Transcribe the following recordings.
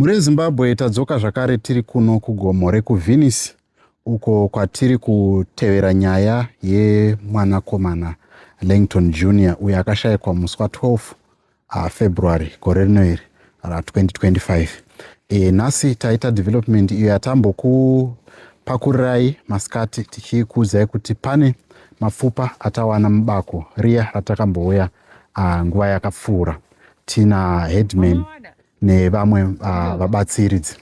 Mhuri yeZimbabwe tadzoka zvakare tiri kuno kugomo rekuVenice uko kwatiri kutevera nyaya yemwanakomana Langton Junior uyo akashayikwa musi wa 12 uh, February gore rino iri ra 2025. E, nhasi taita development iyo yatambokupakurirai masikati tichikuudzai kuti pane mapfupa atawana mubako riya ratakambouya uh, nguva yakapfuura tina headman nevamwe uh, vabatsiridzi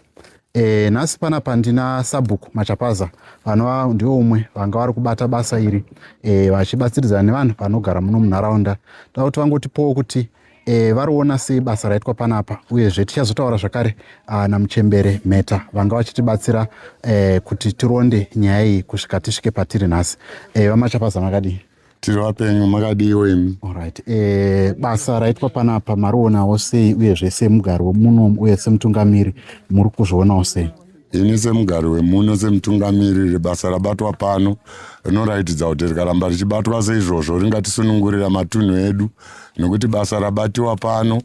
e, nhasi pana pandina sabhuku machapaza vanova ndivo umwe vanga vari kubata basa iri e, vachibatsiridzana nevanhu vanogara muno munharaunda toda kuti vangotipowo kuti e, variona sei basa raitwa panapa uyezve tichazotaura zvakare ah, namuchembere mheta vanga vachitibatsira e, kuti tironde nyaya iyi kusvika tisvike patiri nhasi e, vamachapaza makadii tiri vapenyu makadiiwo imi orit e, eh, basa raitwa panapa marionawo sei uyezve semugari wemuno uye semutungamiri muri kuzvionawo sei ini semugari wemuno semutungamiri rebasa rabatwa pano rinoratidza kuti rikaramba richibatwa seizvozvo ringatisunungurira matunhu edu nekuti basa rabatiwa pano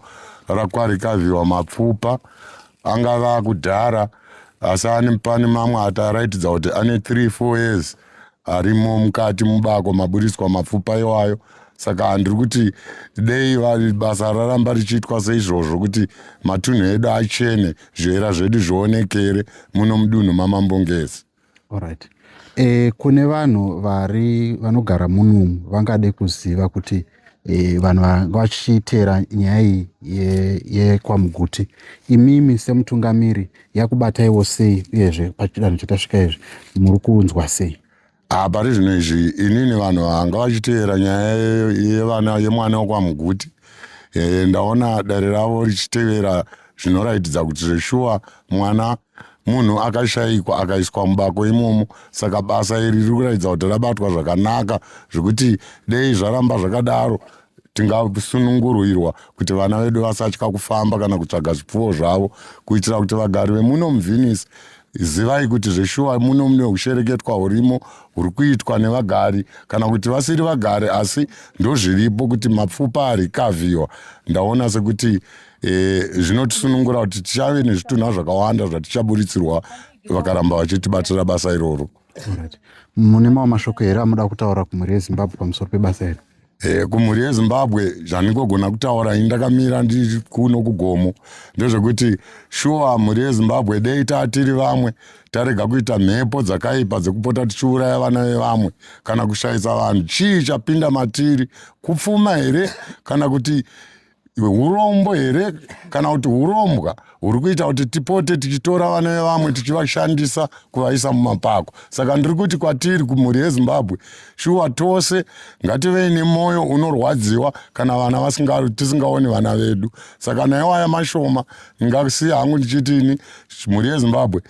rakwarikaviwa mapfupa angava akudhara asi ani pane mamwe ati araitidza kuti ane 3 4 years arimo mukati mubako maburitswa mapfupa iwayo saka handiri kuti dei basa raramba richiitwa seizvozvo kuti matunhu edu achene zviera zvedu zvionekere muno mudunhu mamambongezi right. e, eh, kune vanhu vari vanogara munomu vangade kuziva kuti e, vanhu vanga vachiteera nyaya iyi yekwamuguti ye imimi semutungamiri yakubataiwo sei uyezve pachidanho chatasvika izvi muri kunzwa sei ah, pari zvino izvi inini vanhu vanga vachiteera nyaya yevana yemwana wekwamuguti e, ndaona dare ravo richitevera zvinoratidza kuti zveshuwa mwana munhu akashaikwa akaiswa mubako imomo saka basa iri riri kuratidza kuti rabatwa zvakanaka zvekuti dei zvaramba zvakadaro tingasununguruirwa kuti vana vedu vasatya kufamba kana kutsvaga zvipfuwo zvavo kuitira kuti vagari vemuno muvenice zivai kuti zveshuwa muno mune ushereketwa hurimo huri kuitwa nevagari kana kuti vasiri vagari asi ndozviripo kuti mapfupa arikavhiwa ndaona sekuti e, zvinotisunungura kuti tichave nezvitunha zvakawanda zvatichaburitsirwa vakaramba vachitibatira basa iroro mune mawo mashoko here amuda kutaura kumhuri yezimbabwe pamusoro pebasa iri e, kumhuri yezimbabwe zvandingogona kutaura ini ndakamira ndiri kuno kugomo ndezvekuti shuwa mhuri yezimbabwe dei taa tiri vamwe tarega kuita mhepo dzakaipa dzekupota tichiuraya vana vevamwe kana kushayisa vanhu chii chapinda matiri kupfuma here kana kuti Iwe urombo here kana kuti urombwa huri kuita kuti tipote tichitora vana vevamwe tichivashandisa kuvaisa mumapako saka ndiri kuti kwatiri kumhuri yezimbabwe shuwa tose ngativei nemwoyo unorwadziwa kana vana vasinga tisingaoni vana vedu saka naiwaya mashoma ndingasiya hangu ndichitini mhuri yezimbabwe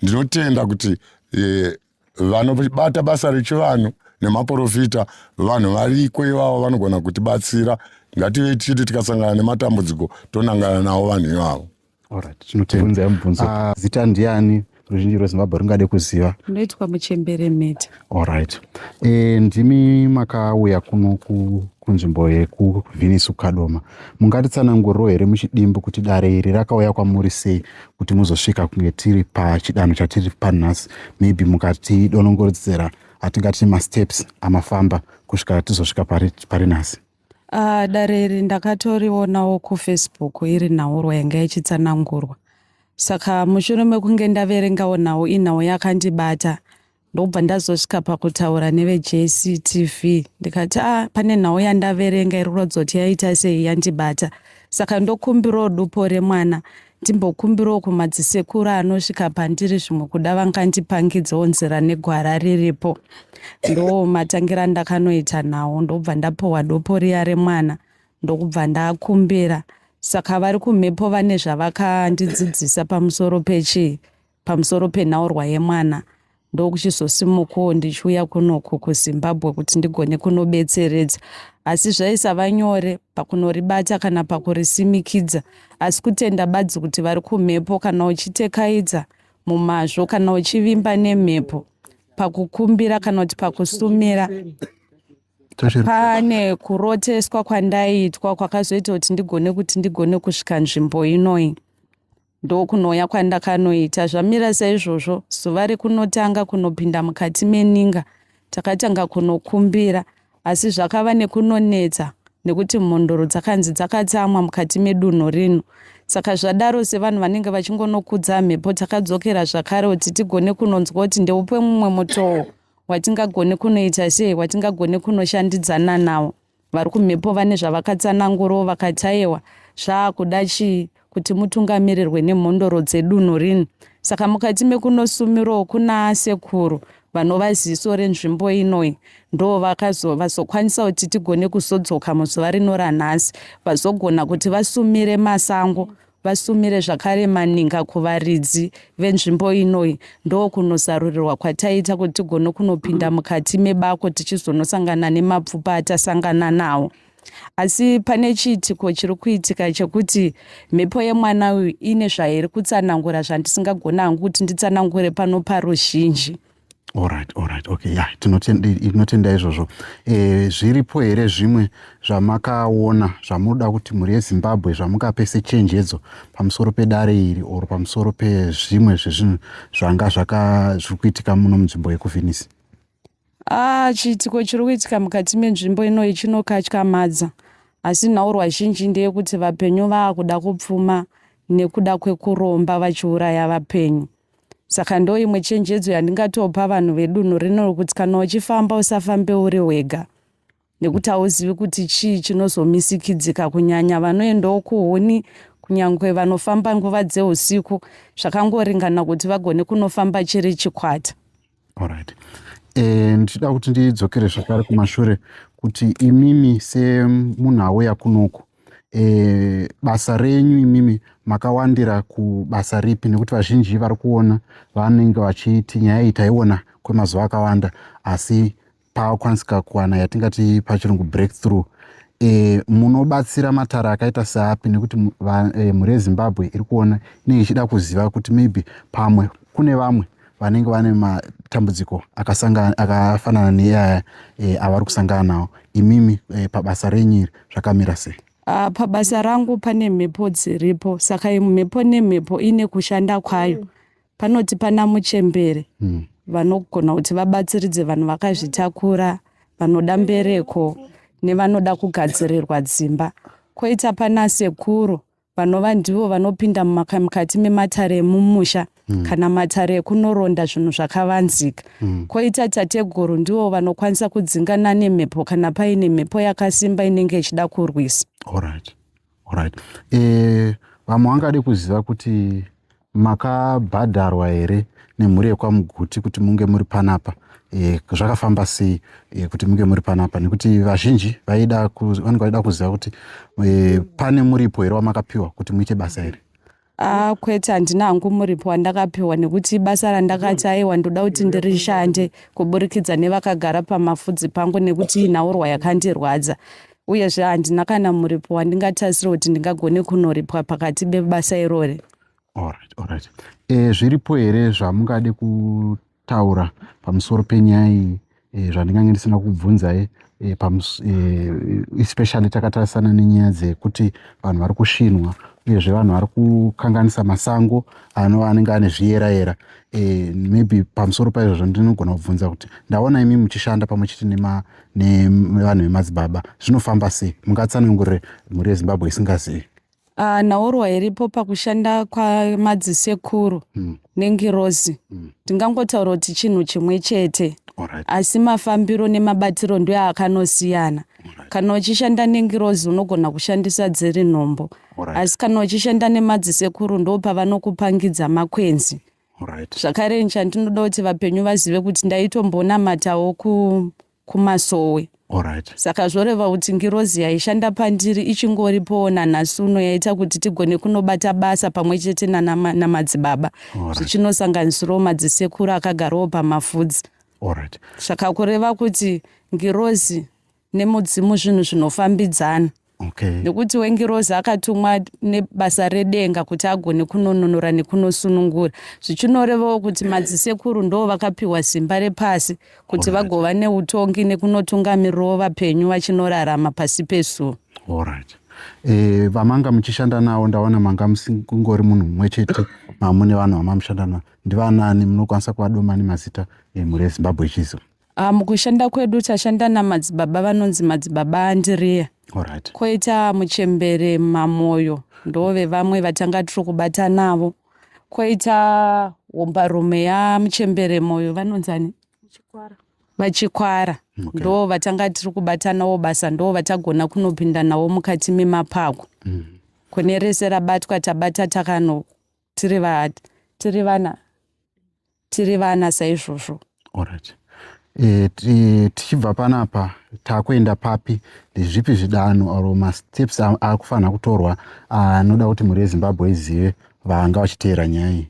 ndinotenda kuti eh, vanobata basa rechivanhu nemaporofita vanhu variko ivavo vanogona kutibatsira ngative tichiti tikasangana nematambudziko tonangana navo vanhu ivavo tinotibvunzai mubvunzo ah, zita ndiani ruzhinji rwezimbabwe ringade kuziva ndoitwa muchembere mhete allright e, eh, ndimi makauya kuno kunzvimbo yekuvhinisu kadoma mungatitsananguriro here muchidimbu kuti dare iri rakauya kwamuri sei kuti muzosvika kunge tiri pachidanho chatiri panhasi maybe mukatidonongoredzera atingati masteps amafamba kusvika tizosvika pari, pari nhasi uh, dare iri ndakatorionawo kufacebook iri nhaurwa yanga yachitsanangurwa saka mushure mekunge ndaverengawo nhau inhau yakandibata ndokubva ndazosvika pakutaura nevejctv ndikati a ah, pane nhau yandaverenga iri kuratidza kuti yaita sei yandibata saka ndokumbirawo dupo remwana ndimbokumbirawo kumadzisekuru anosvika pandiri zvimwe kuda vangandipangidzawo nzira negwara riripo ndo matangira ndakanoita nhau ndokubva ndapohwa dupo riya remwana ndokubva ndakumbira saka vari kumhepo vane zvavakandidzidzisa pamusoro pechii pamusoro penhaurwa yemwana ndokuchizosimukawo ndichiuya kunoku kuzimbabwe kuti ndigone kunobetseredza asi zvaisava nyore pakunoribata kana pakurisimikidza asi kutenda badzi kuti vari kumhepo kana uchitekaidza mumazvo kana uchivimba nemhepo pakukumbira kana kuti pakusumira pane kuroteswa kwandaiitwa kwakazoita kuti ndigone kuti ndigone kusvika nzvimbo inoyi Ndokunouya kwandakanoita zvamira saizvozvo zuva rekunotanga kunopinda mukati meninga takatanga kunokumbira asi zvakava nekunonetsa nekuti mhondoro dzakanzi dzakatsamwa mukati medunhu rino saka zvadaro sevanhu vanenge vachingonokudza mhepo takadzokera zvakare kuti tigone kunonzwa kuti ndeupe mumwe mutoo watingagone kunoita sei watingagone kunoshandidzana nawo Vari kumhepo vane zvavakatsanangurawo vakati ayewa zvaakuda chii kuti mutungamirirwe nemhondoro dzedunhu rino. Saka mukati mekunosumirawo kunaasekuru vanova ziso renzvimbo inoi ndovazokwanisa kuti tigone kuzodzoka muzuva rino ranhasi vazogona kuti vasumire masango Vasumire zvakare maninga kuvaridzi venzvimbo inoi ndokunozarurirwa kwataita kuti tigone kunopinda mukati mebako tichizonosangana nemapfupa atasangana nawo. Asi pane chiitiko chiri kuitika chekuti mhepo yemwana uyu ine zvairi kutsanangura zvandisingagona hangu kuti nditsanangure pano paruzhinji. Alright, alright, okay, yeah, tinotenda izvozvo. E, zviripo here zvimwe zvamakaona zvamunoda kuti mhuri yeZimbabwe zvamungape sechenjedzo pamusoro pedare iri or pamusoro pezvimwe zvezvinhu zvanga zviri kuitika muno munzvimbo yekuvhinisi? Ah, chiitiko chiri kuitika mukati menzvimbo inoyi chinokatyamadza asi nhaurwa zhinji ndeyekuti vapenyu vaakuda kupfuma nekuda kwekuromba vachiuraya vapenyu. Saka ndoimwe chenjedzo yandingatopa vanhu vedunhu rino rokuti kana uchifamba usafambe uri wega nekuti hauzivi kuti chii chinozomisikidzika kunyanya vanoendawo kuhuni kunyange vanofamba nguva dzeusiku zvakangoringana kuti vagone kunofamba chiri chikwata Alright. Eh, ndichida kuti ndidzokere zvakare kumashure kuti imimi semunhu auya kunoku e, basa renyu imimi makawandira kubasa ripi nekuti vazhinji vari kuona vanenge vachiti nyaya iyi taiona kwemazuva akawanda asi pakwanisika kuwana yatingati pachirungu breakthrough e, munobatsira matara akaita seapi nekuti e, mhuri yezimbabwe iri kuona inenge ichida kuziva kuti maybe pamwe kune vamwe vanenge vane matambudziko akafanana neaya e, avari kusangana nawo imimi e, pabasa renyu iri zvakamira sei Uh, pabasa rangu pane mhepo dziripo saka mhepo nemhepo ine kushanda kwayo mm. Panoti pana muchembere mm. vanogona kuti vabatsiridze vanhu vakazvitakura vanoda mbereko nevanoda kugadzirirwa dzimba koita pana sekuru vanova ndivo vanopinda mukati mematare emumusha mm. kana matare ekunoronda zvinhu zvakavanzika mm. koita tateguru ndivo vanokwanisa kudzingana nemhepo kana paine mhepo yakasimba inenge ichida kurwisa right. right. e, vamwe vangade kuziva kuti makabhadharwa here nemhuri yekwamuguti kuti munge muri panapa e, zvakafamba sei e, kuti munge muri panapa nekuti vazhinji vaida vanenge vaida kuziva kuti e, pane muripo here wamakapiwa kuti muite basa here Ah, kwete handina hangu muripo wandakapiwa nekuti basa randakati aiwa ndoda kuti ndirishande kuburikidza nevakagara pamafudzi pangu nekuti nhaurwa yakandirwadza uyezve handina kana muripo wandingatarisira kuti ndingagone kunoripwa pakati bebasa irori Alright, alright. E, zviripo here zvamungade kutaura pamusoro penyaya iyi e, zvandingange ndisina kubvunzai e, pamus, e, especially takatarisana nenyaya dzekuti vanhu vari kushinwa uyezve vanhu vari kukanganisa masango anova anenge ane zviyera yera e, maybe pamusoro paizvozvo ndinogona kubvunza kuti ndaona imi muchishanda pamwe chete nevanhu vemadzibaba zvinofamba sei mungatsanangurire mhuri yezimbabwe isingazivi Ah, nhaurwa iripo pakushanda kwamadzisekuru Mm. nengirozi Mm. ndingangotaura kuti chinhu chimwe chete Alright. asi mafambiro nemabatiro ndiyo akanosiyana Alright. kana uchishanda nengirozi unogona kushandisa dziri nhombo Alright. asi kana uchishanda nemadzisekuru ndo pavanokupangidza makwenzi Alright. zvakare chandinoda kuti vapenyu vazive kuti ndaitombonamatawo ku kumasowe. Alright. Saka zvoreva kuti ngirozi yaishanda pandiri ichingoripowo nanhasi uno yaita kuti tigone kunobata basa pamwe chete nanamadzibaba zvichinosanganisirawo madzisekuru akagarawo pamafudzi. Alright. Saka kureva kuti ngirozi nemudzimu zvinhu zvinofambidzana. Okay. Nekuti wengirozi akatumwa nebasa redenga kuti agone kunonunura nekunosunungura zvichinorevawo kuti madzisekuru ndo vakapiwa simba repasi kuti vagova neutongi nekunotungamirirawo vapenyu vachinorarama pasi pesuo Alright. Eh, vamanga muchishanda nawo ndaona manga musingori munhu mumwe chete mamune vanhu vamamushanda nawo ndivanani munokwanisa kuvadoma nemazita emhuri yezimbabwe chizo Ah, mukushanda kwedu tashanda namadzibaba vanonzi madzibaba andiriya Alright. koita muchembere mamoyo ndove vamwe vatanga tiri kubata navo koita hombarume yamuchembere moyo vanonzani vachikwara Okay. ndo vatanga tiri kubata navo basa ndo vatagona kunopinda navo mukati memapako kune rese rabatwa tabata takano tiri vaad tiri vana tiri vana saizvozvo Alright. Eh, ti- tichibva panapa takuenda papi ndezvipi zvidanho or masteps a- akufanira kutorwa anoda kuti mhuri yezimbabwe izive vanga vachiteera nyaya iyi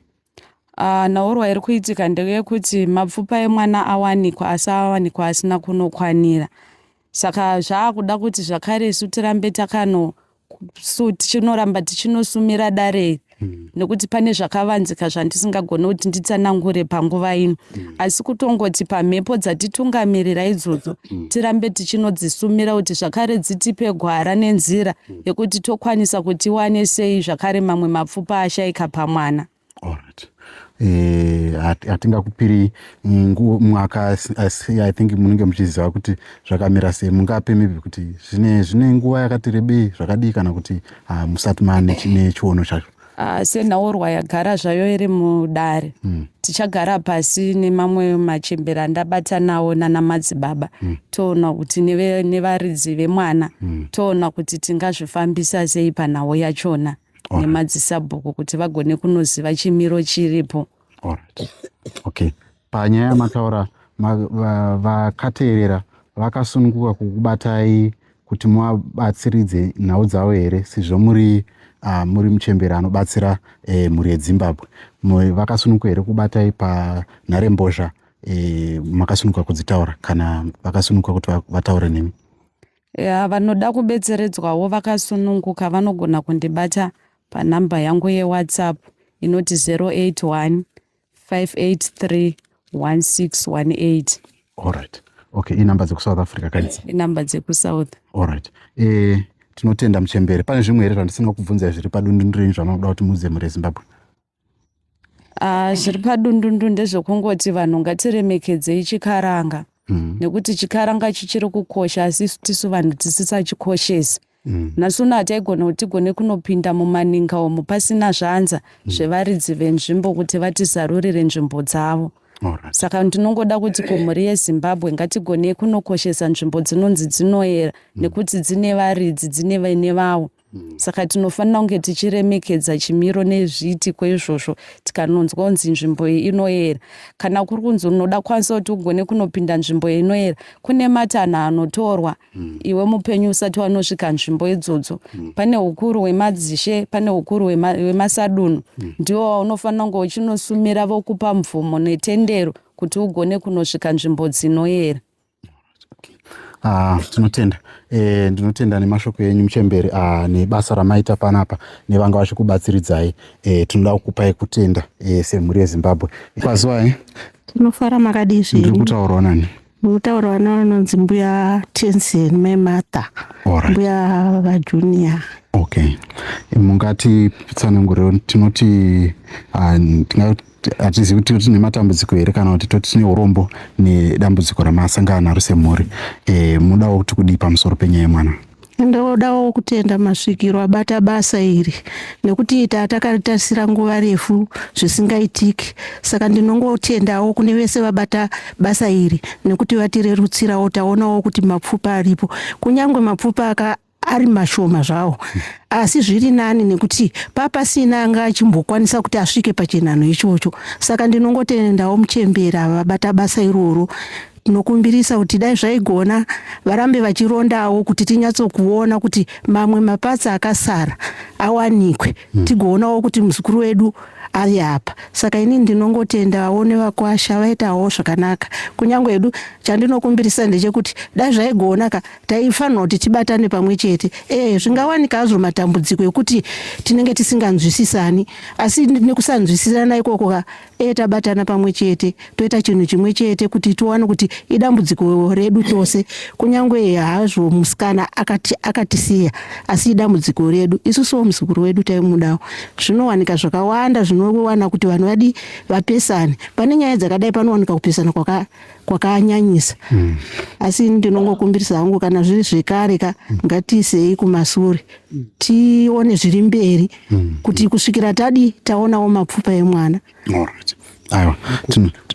Ah, nhaurwa iri kuitika ndeyekuti mapfupa emwana awanikwa asi awanikwa asina kunokwanira saka zvaakuda kuti zvakare isu tirambe takano so tichinoramba tichinosumira dare iri hmm. nekuti pane zvakavanzika zvandisingagone kuti nditsanangure panguva ino hmm. asi kutongoti pamhepo dzatitungamirira idzodzo hmm. tirambe tichinodzisumira kuti zvakare dzitipe gwara nenzira yekuti tokwanisa kuti iwane sei zvakare mamwe mapfupa ashaika pamwana Alright. Eh, hatingakupiri mwaka i think munenge muchiziva kuti zvakamira sei mungape maybe kuti zvine zvine nguva yakati rebei zvakadii kana kuti ah, musati mane chine chiono chacho ah, senhaurwa yagara zvayo iri mudare hmm. tichagara pasi nemamwe machembera ndabatanawo nana madzibaba hmm. toona kuti nevaridzi vemwana hmm. toona kuti tingazvifambisa sei panhau yachona Alright. nemadzisabhuku kuti vagone kunoziva chimiro chiripo Alright. Okay. Panyaya yamataura ma- va- vakateerera vakasununguka kukubatai kuti muvabatsiridze nhau dzavo here sezvo muri ah, muri muchembere anobatsira eh, mhuri yedzimbabwe Mu- vakasununguka here kubatai panharembozha eh, makasununguka kudzitaura kana vakasununguka kuti va- vataure nemi Yeah, vanoda kubetseredzwawo vakasununguka vanogona kundibata panhamba yangu yewhatsapp inoti 081 583 1618 Alright. Okay, inhamba dzekusouth africa kaidzi. inhamba dzekusouth Alright. Eh, tinotenda muchembere. Pane zvimwe here zvandisina kukubvunza zviri padundundu renyu zvamanoda kuti muudze mhuri yeZimbabwe? Ah, zviri padundundu ndezvekungoti vanhu ngatiremekedzei chikaranga mm. nekuti chikaranga chichiri kukosha asi tisu vanhu tisisachikoshesi mm. nhasi uno hataigona kuti tigone kunopinda mumaninga omo pasina zvanza mm. zvevaridzi venzvimbo kuti vatizarurire nzvimbo dzavo Alright. saka ndinongoda kuti kumhuri yezimbabwe ngatigonei kunokoshesa nzvimbo dzinonzi dzinoera mm. nekuti dzine varidzi dzine vene vavo Mm. saka tinofanira kunge tichiremekedza chimiro nezviitiko izvozvo tikanonzwa kunzi nzvimbo iyi inoyera kana kuri kunzi unoda kwanisa kuti ugone kunopinda nzvimbo iyi inoyera kune matanho anotorwa mm. iwe mupenyu usati wanosvika nzvimbo idzodzo mm. pane ukuru wemadzishe pane ukuru wemasadunhu ndiwo waunofanira kunge uchinosumira vokupa mvumo netendero kuti ugone kunosvika nzvimbo dzinoyera Ah, tinotenda e, ndinotenda nemashoko enyu muchemberi ah, nebasa ramaita panapa nevanga vachikubatsiridzai e, tinoda kukupai kutenda e, semhuri yezimbabwe kwaziwai eh? tinofara makadii zviri kutaurwa nani mutaurwa navanonzi mbuya tensen mai martha right. mbuya vajunior okay mungati pitsananguriro tinoti uh, ah, tingati hatizivi kuti tine matambudziko here kana kuti toti tine urombo nedambudziko ramasangana naro semhuri e, mudawo kuti kudii pamusoro penyaya yemwana ndodawo kutenda masvikiro abata basa iri nekuti ita takaritarisira nguva refu zvisingaitiki saka ndinongotendawo kune vese vabata basa iri nekuti vatirerutsirawo taonawo kuti mapfupa aripo kunyange mapfupa ari mashoma zvawo asi zviri nani nekuti papasina anga achimbokwanisa kuti asvike pachinhanho ichocho saka ndinongotendawo muchembera vabata basa iroro tinokumbirisa kuti dai zvaigona varambe vachirondawo kuti tinyatsokuona kuti mamwe mapatsi akasara awanikwe hmm. tigoonawo kuti muzukuru wedu ari apa saka ini ndinongotendawo nevakwasha vaitawo zvakanaka kunyange edu chandinokumbirisa ndechekuti dai zvaigonaka taifanirwa kuti tibatane pamwe chete ee zvingawanika hazvo matambudziko ekuti tinenge tisinganzwisisani asi nekusanzwisisana ikoko ka ee tabatana pamwe chete toita chinhu chimwe chete kuti tiwane kuti idambudziko redu tose kunyange hazvo musikana akati akatisiya asi idambudziko redu isusuwo muzukuru wedu taimudawo zvinowanika zvakawanda zvinowana kuti vanhu vadi vapesane pane nyaya dzakadai panowanika kupesana kwaka kwakanyanyisa mm. asi ndinongokumbirisa hangu kana zviri zvekare ka mm. ngatiisei kumasure mm. tione zviri mberi mm. kuti kusvikira tadi taonawo mapfupa emwana right. aiwa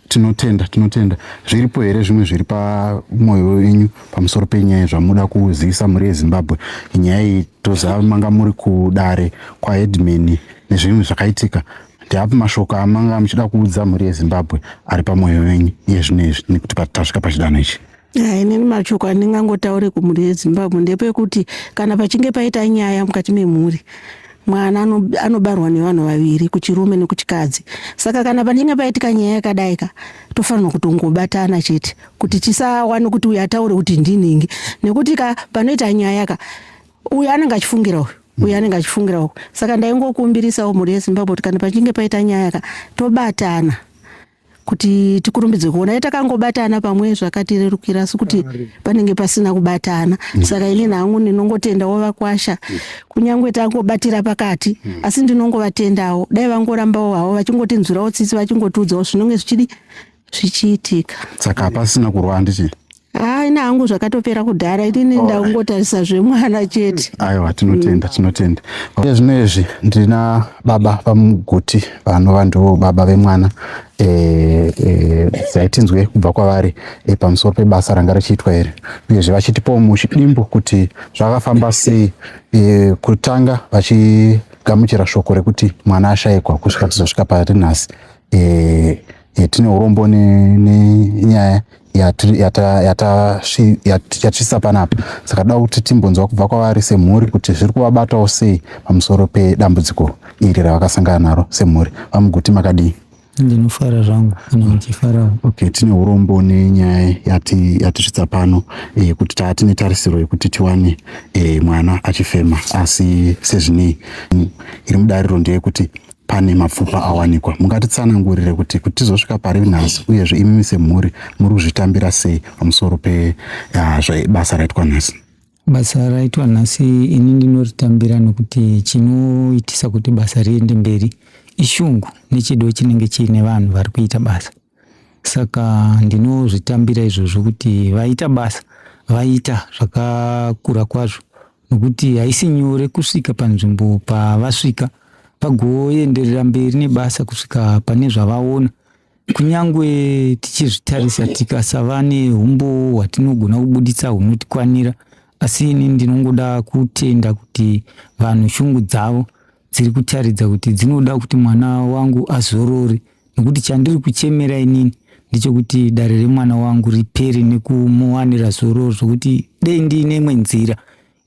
tinotenda tinotenda zviripo here zvimwe zviri pamwoyo wenyu pamusoro penyaya zvamuda kuzivisa mhuri yezimbabwe nyaya iyi tozava manga muri kudare kwaedmin nezvimwe zvakaitika Ndeapi mashoko amanga muchida kuudza mhuri yeZimbabwe ari pamwoyo wenyu iye zvino izvi nekuti tasvika pachidanho ichi? Ah, inini mashoko andingangotaure kumhuri yezimbabwe ndepekuti kana pachinge paita nyaya mukati memhuri mwana anobarwa nevanhu vaviri kuchirume nekuchikadzi saka kana panenge paitika nyaya yakadaika tofanirwa kutongobatana chete kuti tisawane kuti uyu ataure kuti ndinhingi nekuti ka panoita nyaya ka uyu anenge achifungira uyu uyu anenge achifungira uku saka ndaingokumbirisawo mhuri yezimbabwe kuti kana pachinge paita nyaya ka tobatana kuti tikurumbidze kuona ye takangobatana pamwe zvakatirerukira asi kuti panenge pasina kubatana mm. saka ini nangu ndinongotendawo vakwasha mm. kunyange tangobatira pakati mm. asi ndinongovatendawo dai vangorambawo havo vachingotinzwirawo tsitsi vachingotiudzawo zvinonge zvichidi zvichiitika saka hapasina kurwa handiti haa ini hangu zvakatopera kudhara inini Alright. ndakungotarisa zvemwana chete aiwa tinotenda tinotenda iye zvino izvi ndina baba vamuguti vanova ndivo baba vemwana eh, eh, dai tinzwe kubva kwavari eh, pamusoro pebasa ranga richiitwa iri uyezve vachitipawo muchidimbo kuti zvakafamba sei eh, kutanga vachigamuchira shoko rekuti mwana ashaikwa kusvika tizosvika pari nhasi e, e, tine urombo nenyaya yatisvisa panapa saka da kuti timbonzwa kubva kwavari semhuri kuti zviri kuvabatawo sei pamusoro pedambudziko iri ravakasangana naro semhuri vamuguti makadii ndinofara zvangu kana muchifarawo okay tine urombo nenyaya yati yatisvitsa pano e, kuti taa tine tarisiro yekuti tiwane e, mwana achifema asi sezvinei iri mudariro ndeyekuti pane mapfupa awanikwa mungatitsanangurire kuti kuti tizosvika pari nhasi uyezve imimi semhuri muri kuzvitambira sei pamusoro pebasa raitwa nhasi basa raitwa nhasi ini ndinoritambira nokuti chinoitisa kuti basa riende mberi ishungu nechido chinenge chiine vanhu vari kuita basa saka ndinozvitambira izvozvo kuti vaita basa vaita zvakakura kwazvo nokuti haisi nyore kusvika panzvimbo pavasvika vagoenderera mberi nebasa kusvika pane zvavaona kunyange tichizvitarisa tikasava neumbowo hwatinogona kubuditsa hunotikwanira asi ini ndinongoda kutenda kuti vanhu shungu dzavo dziri kutaridza kuti dzinoda kuti mwana wangu azorore nekuti chandiri kuchemera inini ndechekuti dare remwana wangu ripere nekumuwanira zororo zvekuti dei ndiine imwe nzira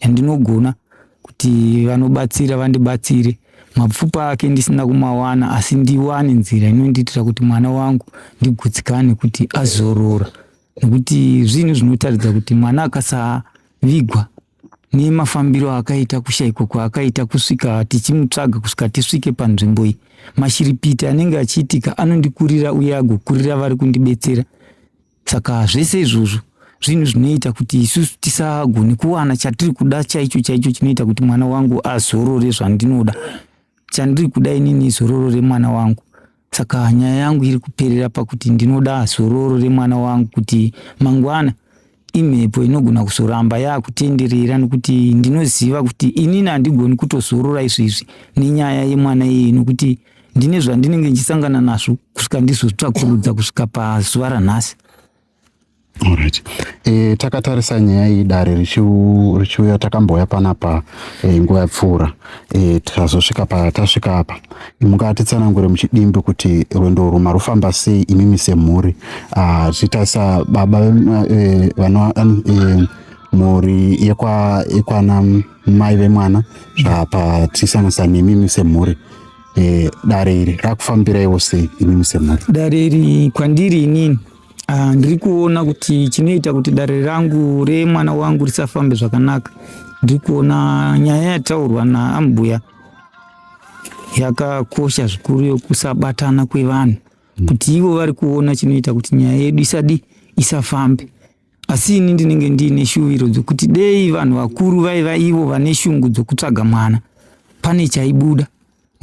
yandinogona kuti vanobatsira vandibatsire mapfupa ake ndisina kumawana asi ndiwane nzira inondiitira kuti mwana wangu ndigutsikane kuti azorora nekuti zvinhu zvinotaridza kuti mwana akasavigwa nemafambiro akaita kushaikwa kwaakaita kusvika tichimutsvaga kusvika tisvike panzvimbo iyi mashiripiti anenge achiitika anondikurira uye agokurira vari kundibetsera saka zvese izvozvo zvinhu zvinoita kuti isusu tisagone kuwana chatiri kuda chaicho chaicho chinoita kuti mwana wangu azorore zvandinoda chandiri kuda inini izororo remwana wangu Saka nyaya yangu iri kuperera pakuti ndinoda zororo remwana wangu kuti mangwana imhepo inogona kuzoramba yakutenderera nokuti ndinoziva kuti inini handigoni kutozorora izvezvi nenyaya yemwana iyeye nokuti ndine zvandinenge ndichisangana nazvo kusvika ndizotsvakurudza kusvika pazuva ranhasi Alright. E, takatarisa nyaya iyi dare richiuya takambouya panapa e, nguva yapfuura e, tikazosvika patasvika apa mukatitsanangure muchidimbi kuti rwendo urwu marufamba sei imimi semhuri ah, tichitarisa baba e, vano e, mhuri yekwana mai vemwana zvapa tichisanganisa nemimi semhuri e, dare iri rakufambiraiwo sei imimi semhuri dare iri kwandiri inini Ah, ndiri kuona kuti chinoita kuti dare rangu remwana wangu risafambe zvakanaka ndiri kuona nyaya yataurwa naambuya yakakosha zvikuru yokusabatana kwevanhu mm. kuti ivo vari kuona chinoita kuti nyaya yedu isadi isafambe asi ini ndinenge ndiine shuviro dzokuti dei vanhu vakuru vaiva ivo vane shungu dzokutsvaga mwana pane chaibuda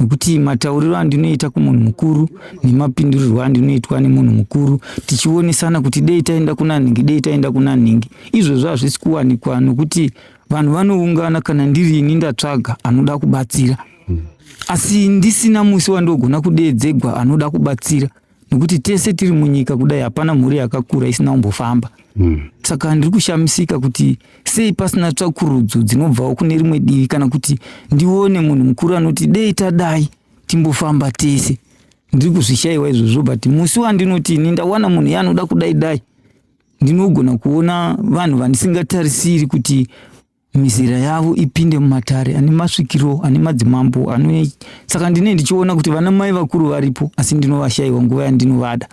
nokuti matauriro andinoita kumunhu mukuru nemapindurirwo andinoitwa nemunhu mukuru tichionesana kuti dei taenda kuna nhingi dei taenda kuna nhingi izvozvo hazvisi kuwanikwa nokuti vanhu vanoungana kana ndiri ini ndatsvaga anoda kubatsira asi ndisina musi wandogona kudeedzegwa anoda kubatsira nekuti tese tiri munyika kudai hapana mhuri yakakura isina kumbofamba mm. saka ndiri kushamisika kuti sei pasina tsvakurudzo dzinobvawo kune rimwe divi kana kuti ndione munhu mukuru anoti dei tadai timbofamba tese ndiri kuzvishaiwa izvozvo but musi wandinoti ini ndawana munhu yaanoda kudai dai ndinogona kuona vanhu vandisingatarisiri kuti mizera yavo ipinde mumatare ane masvikiro ane madzimambo ano saka ndine ndichiona kuti vana mai vakuru varipo asi ndinovashayiwa nguva yandinovada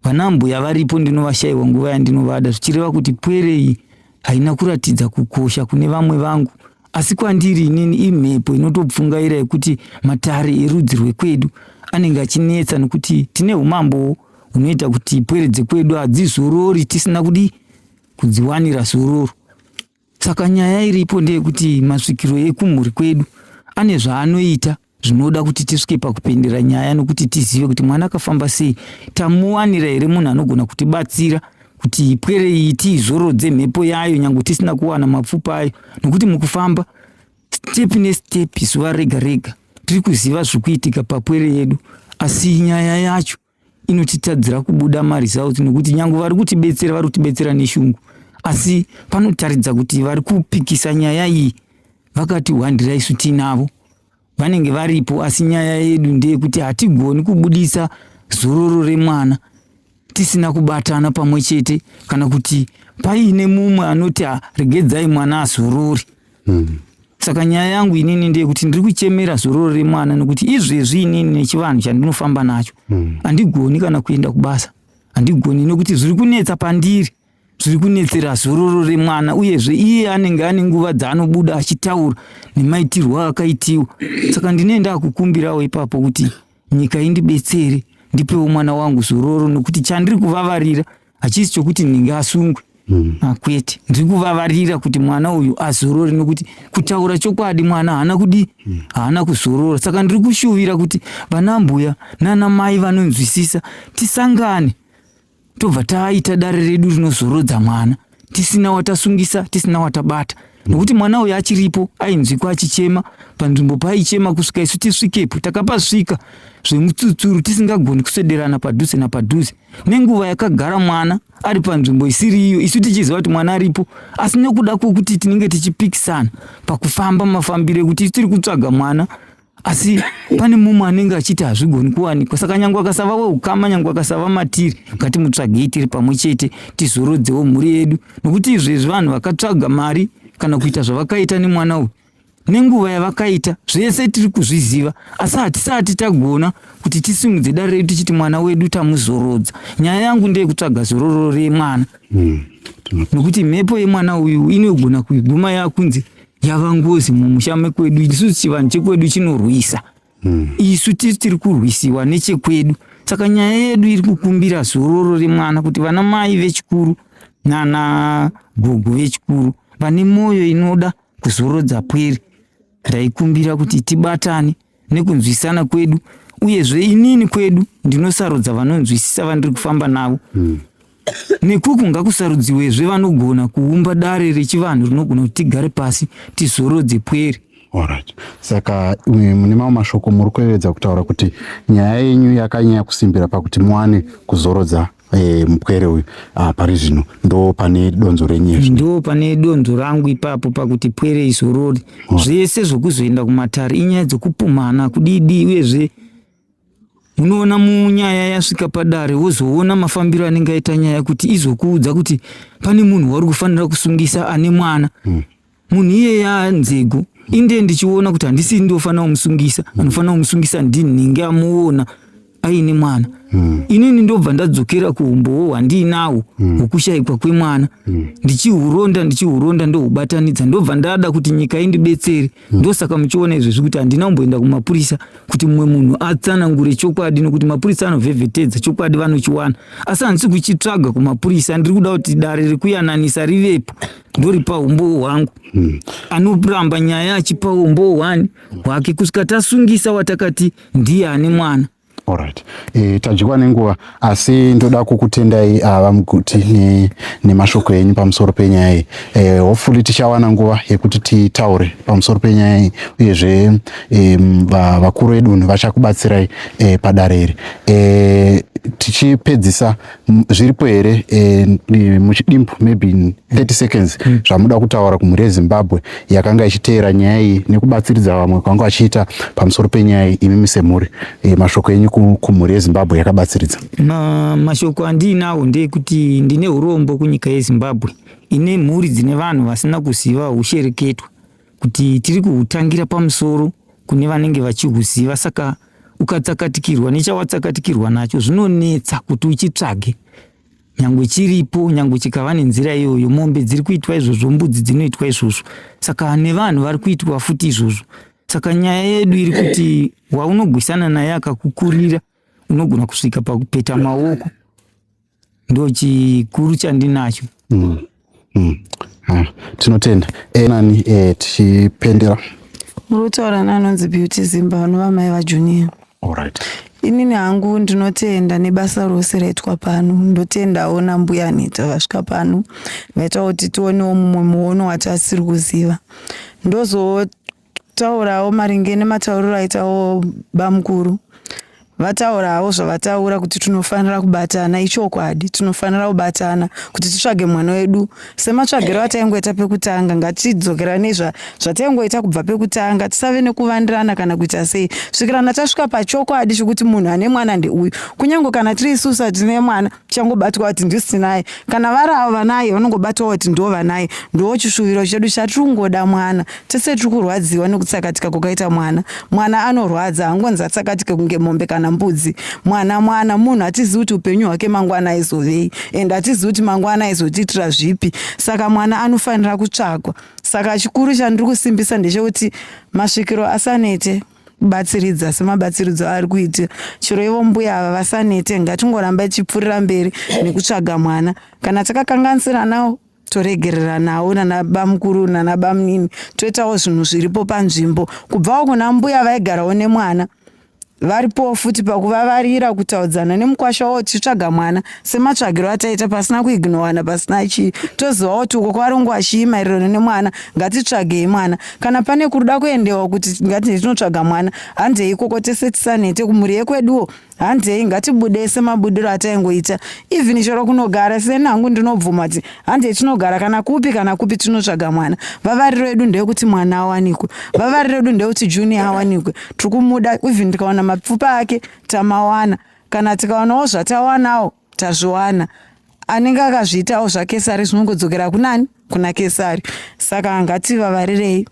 vana mbuya varipo ndinovashayiwa nguva yandinovada zvichireva kuti pwere iyi haina kuratidza kukosha kune vamwe vangu asi kwandiri inini imhepo inotopfungaira yekuti matare erudzi rwekwedu anenge achinetsa nokuti tine umambo hunoita kuti pwere dzekwedu hadzizorori tisina kudii kudziwanira zororo. Saka nyaya iripo ndeyekuti masvikiro ekumhuri kwedu ane zvaanoita zvinoda kuti tisvike pakupendera nyaya nokuti tizive kuti mwana akafamba sei tamuwanira here munhu anogona kutibatsira kuti ipwere iyi tiizorodze mhepo yayo nyange tisina kuwana mapfupa ayo nokuti mukufamba step nestep zuva rega rega tiri kuziva zviri kuitika papwere yedu asi nyaya yacho inotitadzira kubuda maresults nokuti nyange vari kutibetsera vari kutibetsera neshungu asi panotaridza kuti vari kupikisa nyaya iyi vakatihwandira isu tiinavo vanenge varipo asi nyaya yedu ndeyekuti hatigoni kubudisa zororo remwana tisina kubatana pamwe chete kana kuti paine mumwe anoti regedzai mwana azorori mm. saka nyaya yangu inini ndeyekuti ndiri kuchemera zororo remwana nekuti izvezvi inini nechivanhu chandinofamba nacho mm. handigoni mm. kana kuenda kubasa handigoni nekuti zviri kunetsa pandiri zviri kunetsera zororo remwana uyezve iye anenge ane nguva dzaanobuda achitaura nemaitirwo akaitiwa saka ndine ndakukumbirawo ipapo kuti nyika indibetsere ndipewo mwana wangu zororo nokuti chandiri kuvavarira hachisi chokuti ninge asungwe mm. akwete ah, ndiri kuvavarira kuti mwana uyu azorore nokuti kutaura chokwadi mwana haana kudi mm. haana kuzorora saka ndiri kushuvira kuti vana mbuya nana mai vanonzwisisa tisangane tobva taita dare redu rinozorodza mwana tisina watasungisa tisina watabata mm. nokuti mwana uyu achiripo ainzwikwa achichema panzvimbo paaichema kusvika isu tisvikepo takapasvika zvemutsutsuru tisingagoni kuswederana padhuze napadhuze nenguva yakagara mwana ari panzvimbo isiri iyo isu tichiziva kuti mwana aripo asi nekuda kwekuti tinenge tichipikisana pakufamba mafambiro ekuti tiri kutsvaga mwana asi pane mumwe anenge achiti hazvigoni kuwanikwa saka nyange akasava weukama nyange akasava matiri ngatimutsvagei tiri pamwe chete tizorodzewo mhuri yedu nokuti izvezvi vanhu vakatsvaga mari kana kuita zvavakaita nemwana uyu nenguva yavakaita zvese tiri kuzviziva asi hatisati tagona kuti tisimudze dare redu tichiti mwana wedu tamuzorodza nyaya yangu ndeyekutsvaga zororo remwana hmm, nokuti mhepo yemwana uyu inogona kuiguma yakunzi yava ngozi mumusha mekwedu isu chivanhu chekwedu chinorwisa hmm. isu tiri tiri kurwisiwa nechekwedu saka nyaya yedu iri kukumbira zororo remwana kuti vana mai vechikuru nana gogo vechikuru vane mwoyo inoda kuzorodza pwere raikumbira kuti tibatane nekunzwisana kwedu uyezve inini kwedu ndinosarudza vanonzwisisa vandiri kufamba navo mm. nekuku ngakusarudziwezve vanogona kuumba dare rechivanhu rinogona kuti tigare pasi tizorodze pwere Alright. Saka mune mamwe mashoko muri kuyevedza kutaura kuti nyaya yenyu yakanyanya kusimbira pakuti muwane kuzorodza e, mupwere uyu ah, pari zvino ndo pane donzo renye ndo pane donzo rangu ipapo pakuti pwere izorori oh. zvese zvokuzoenda kumatare inyaya dzokupumhana kudidi uyezve unoona munyaya yasvika padare wozoona mafambiro anenge aita nyaya kuti izokuudza kuti pane munhu wari kufanira kusungisa ane mwana mm. munhu iyeya nzego inde ndichiona kuti handisi ndiofanira kumusungisa anofanira kumusungisa ndini ndinge amuona aine mwana mm. inini ndobva ndadzokera kuumbowo hwandiinawo hmm. hwokushaikwa mm. kwemwana mm. ndichihuronda ndichihuronda ndohubatanidza ndobva ndada kuti nyika indibetsere mm. ndosaka muchiona izvezvi kuti handina kumboenda kumapurisa kuti mumwe munhu atsanangure chokwadi nokuti mapurisa anovhevhetedza chokwadi vanochiwana asi handisi kuchitsvaga kumapurisa ndiri kuda kuti dare rekuyananisa rivepo ndoripa umbowo hwangu hmm. anoramba nyaya achipa umbowo hwani hwake kusvika tasungisa watakati ndiye ane mwana Alright. E, tadyiwa nenguva asi ndoda kukutendai ah, vamuguti ne, nemashoko enyu pamusoro penyaya iyi e, hopefully tichawana nguva yekuti titaure pamusoro penyaya iyi uyezve e, vakuru vedunhu vachakubatsirai e, padare iri e, tichipedzisa zviripo here eh, muchidimbu maybe in 30 seconds mm. zvamuda kutaura kumhuri yezimbabwe yakanga ichiteera nyaya iyi nekubatsiridza vamwe kwanga vachiita pamusoro penyaya iyi imimi semhuri eh, mashoko enyu kumhuri yezimbabwe yakabatsiridza Ma, mashoko andiinawo ndeyekuti ndine urombo kunyika yezimbabwe ine mhuri dzine vanhu vasina kuziva ushereketwa kuti tiri kuhutangira pamusoro kune vanenge vachihuziva saka ukatsakatikirwa nechawatsakatikirwa nacho zvinonetsa kuti uchitsvage nyangwe chiripo nyangwe chikava nenzira iyoyo mombe dziri kuitwa izvozvo mbudzi dzinoitwa izvozvo saka nevanhu vari kuitwa futi izvozvo saka nyaya yedu iri kuti waunogwisana naye akakukurira unogona kusvika pakupeta maoko ndo chikuru chandinacho mm. mm. ah, tinotenda e, nani e, tichipendera muri kutaura neanonzi beauty zimba vanova mai vajunior right. inini hangu ndinotenda nebasa rose raitwa pano ndotendawo nambuya neta vasvika pano vaita kuti tionewo mumwe muono watasiri kuziva ndozo Taurawo maringe nematauriro aitawo bamukuru vataurawo zvavataura kuti tinofanira kubatana ichokwadi tinofanira kubatana kuti titsvage mwana wedu sematsvagiro ataingoita pekutanga ngatidzokeranei zvataingoita kubva pekutanga tisave nekuvandirana kana kuita sei svikirana tasvika pachokwadi chekuti munhu ane mwana ndeuyu kunyange kana tiri isusa tine mwana changobatwa kuti ndisinaye kana vari avo vanaye vanongobatwa kuti ndo vanaye ndo chishuviro chedu chatiri kungoda mwana tese tiri kurwadziwa nekutsakatika kukaita mwana mwana anorwadza hangonzi atsakatike kunge mombe kana mbudzi mwana mwana munhu hatizivi kuti upenyu hwake mangwana aizovei and hatizivi kuti mangwana aizotiitira zvipi saka mwana anofanira kutsvagwa saka chikuru chandiri kusimbisa ndechekuti masvikiro asanete batsiridza semabatsiridzo aari kuita chero ivo mbuya ava vasanete ngatingoramba ichipfuurira mberi nekutsvaga mwana kana takakanganisiranawo toregereranawo nanabamukuru nanabamunini toitawo zvinhu zviripo panzvimbo kubvawo kuna mbuya vaigarawo nemwana varipowo futi pakuvavarira kutaudzana nemukwasha wavo tichitsvaga mwana sematsvagiro ataita pasina kuignowana pasina chii tozivawo kuti uko kwavari kunguva chii maererano nemwana ngatitsvagei mwana kana pane kuruda kuendewa kuti ngatinhe tinotsvaga mwana handei ikoko tese tisanete kumhuri yekweduwo handei ngatibude semabudiro ataingoita even chero kunogara seni hangu ndinobvuma kuti handei tinogara kana kupi kana kupi tinotsvaga mwana vavariro yedu ndeyekuti mwana awanikwe vavariro yedu ndeyekuti junior awanikwe tiri kumuda even ndikawana mapfupa ake tamawana kana tikaonawo zvatawanawo tazviwana anenge akazviitawo zvakesari zvinongodzokera kunani kuna kesari saka ngativavarirei